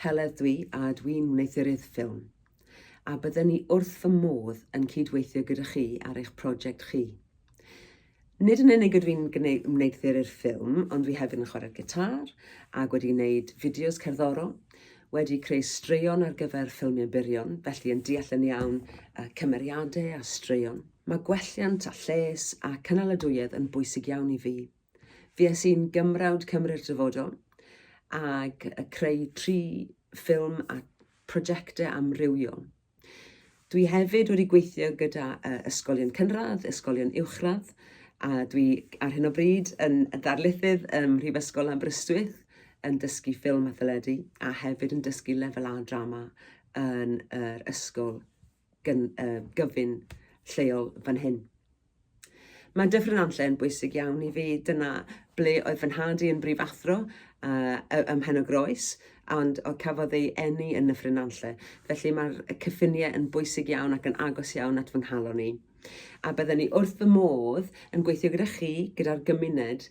Heledd dwi a dwi'n wneuthuruydd ffilm, a bydden i wrth fy modd yn cyd-weithio gyda chi ar eich prosiect chi. Nid yn unig ydw i'n wneuthuruydd ffilm, ond dwi hefyd yn chwarae'r gitâr, ac wedi gwneud fideos cerddorol, wedi creu straeon ar gyfer ffilmiau byrion, felly yn deall yn iawn y cymeriadau a straeon. Mae gwelliant a lles a cynaladwyedd yn bwysig iawn i fi. Fues i'n Gymrawd Cymru'r Dyfodol ac y creu tri ffilm a prosiectau amrywiol. Dwi hefyd wedi gweithio gyda uh, ysgolion cynradd, ysgolion uwchradd, a dwi ar hyn o bryd yn ddarlithydd ym Mhrifysgol Aberystwyth yn dysgu ffilm a theledu a hefyd yn dysgu lefel A drama yn yr ysgol gyn, uh, gyfyn lleol fan hyn. Mae Dyffryn Anlle yn bwysig iawn i fi. Dyna ble oedd fy nhad i yn brif athro uh, ym Mhen o Groes, ond o cafodd ei enni yn Nyffryn Anlle. Felly mae'r cyffiniau yn bwysig iawn ac yn agos iawn at fy nghalon i. A byddwn ni wrth fy modd yn gweithio gyda chi, gyda'r gymuned,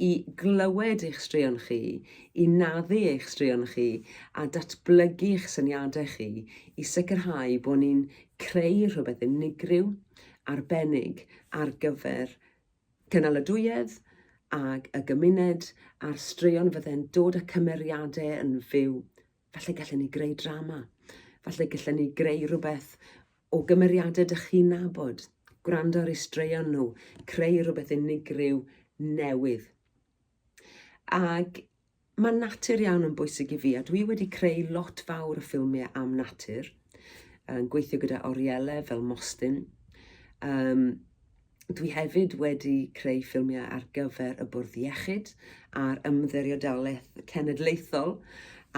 i glywed eich straeon chi, i naddu eich straeon chi a datblygu eich syniadau chi i sicrhau bod ni'n creu rhywbeth unigryw, arbennig ar gyfer cynaladwyedd ag y gymuned a'r straeon fydde'n dod a cymeriadau yn fyw Falle gallen ni greu drama. Falle gallen ni greu rhywbeth o gymeriadau dych chi'n nabod. Gwrando ar eu straeon nhw, creu rhywbeth unigryw newydd. Ac mae natur iawn yn bwysig i fi, a dwi wedi creu lot fawr o ffilmiau am natur, yn gweithio gyda oriele fel Mostyn, um, Dwi hefyd wedi creu ffilmiau ar gyfer y Bwrdd Iechyd a'r Ymddiriedolaeth Cenedlaethol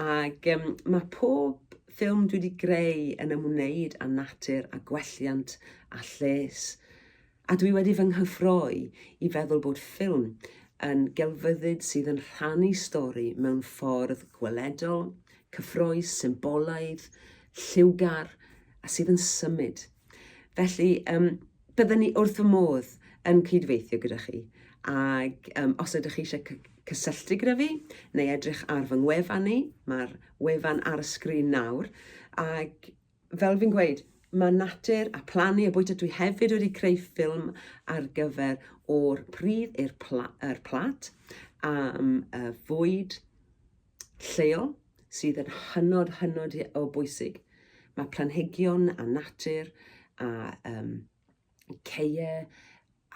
ac um, mae pob ffilm dwi wedi greu yn ymwneud â natur a gwelliant a lles. A dwi wedi fy nghyffroi i feddwl bod ffilm yn gelfyddyd sydd yn rhannu stori mewn ffordd gweledol, cyffroes, symbolaidd, lliwgar a sydd yn symud. Felly, um, byddwn ni wrth fy modd yn cydweithio gyda chi. Ac um, os ydych chi eisiau cysylltu gyda fi neu edrych ar fy ngwefan ni, mae'r wefan ar y sgrin nawr. Ac fel fi'n gweud, mae natur a plannu a bwyta dwi hefyd wedi creu ffilm ar gyfer o'r pridd i'r pla, er plat am y fwyd lleol sydd yn hynod, hynod o bwysig. Mae planhigion a natur a um, ceie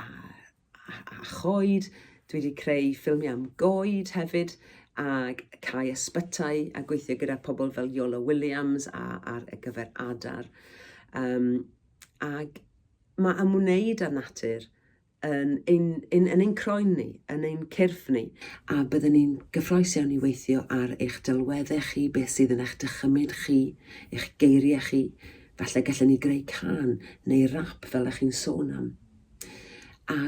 a, a, a choed. Dwi wedi creu ffilmiau am goed hefyd ac cae ysbytai a gweithio gyda pobl fel Yola Williams a, ar y gyfer adar. Um, ac mae ymwneud â natur yn ein, yn, yn ein croen ni, yn ein cyrff ni, a byddwn ni'n gyffroes iawn i weithio ar eich delweddau chi, beth sydd yn eich dychymyd chi, eich geiriau chi. Falle gallen ni greu can neu rap fel ych chi'n sôn am. A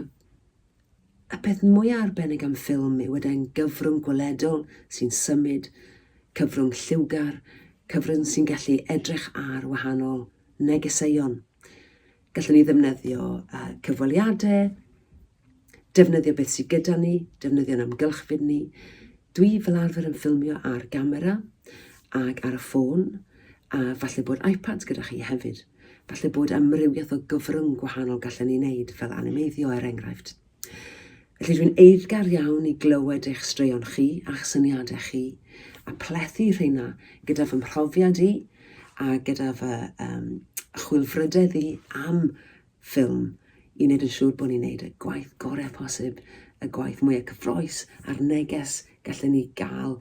y peth mwyaf arbennig am ffilm yw y gyfrwng gweledol sy'n symud, cyfrwng lliwgar, cyfrwng sy'n gallu edrych ar wahanol negeseuon. Gallwn ni ddefnyddio uh, cyfweliadau, defnyddio beth sydd gyda ni, defnyddio'n amgylchfyd ni. Dwi fel arfer yn ffilmio ar gamera ac ar y ffôn, a falle bod iPads gyda chi hefyd. Falle bod amrywiaeth o gyfrwng gwahanol gallen ni wneud fel animeiddio er enghraifft. Felly dwi'n eiddgar iawn i glywed eich straeon chi a'ch syniadau chi, a plethu rheina gyda fy mhrofiad i a gyda fy um, chwilfrydedd i am ffilm i wneud yn siŵr bod ni'n gwneud y gwaith gorau posib, y gwaith mwyaf cyffroes a'r neges gallen ni gael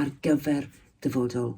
ar gyfer dyfodol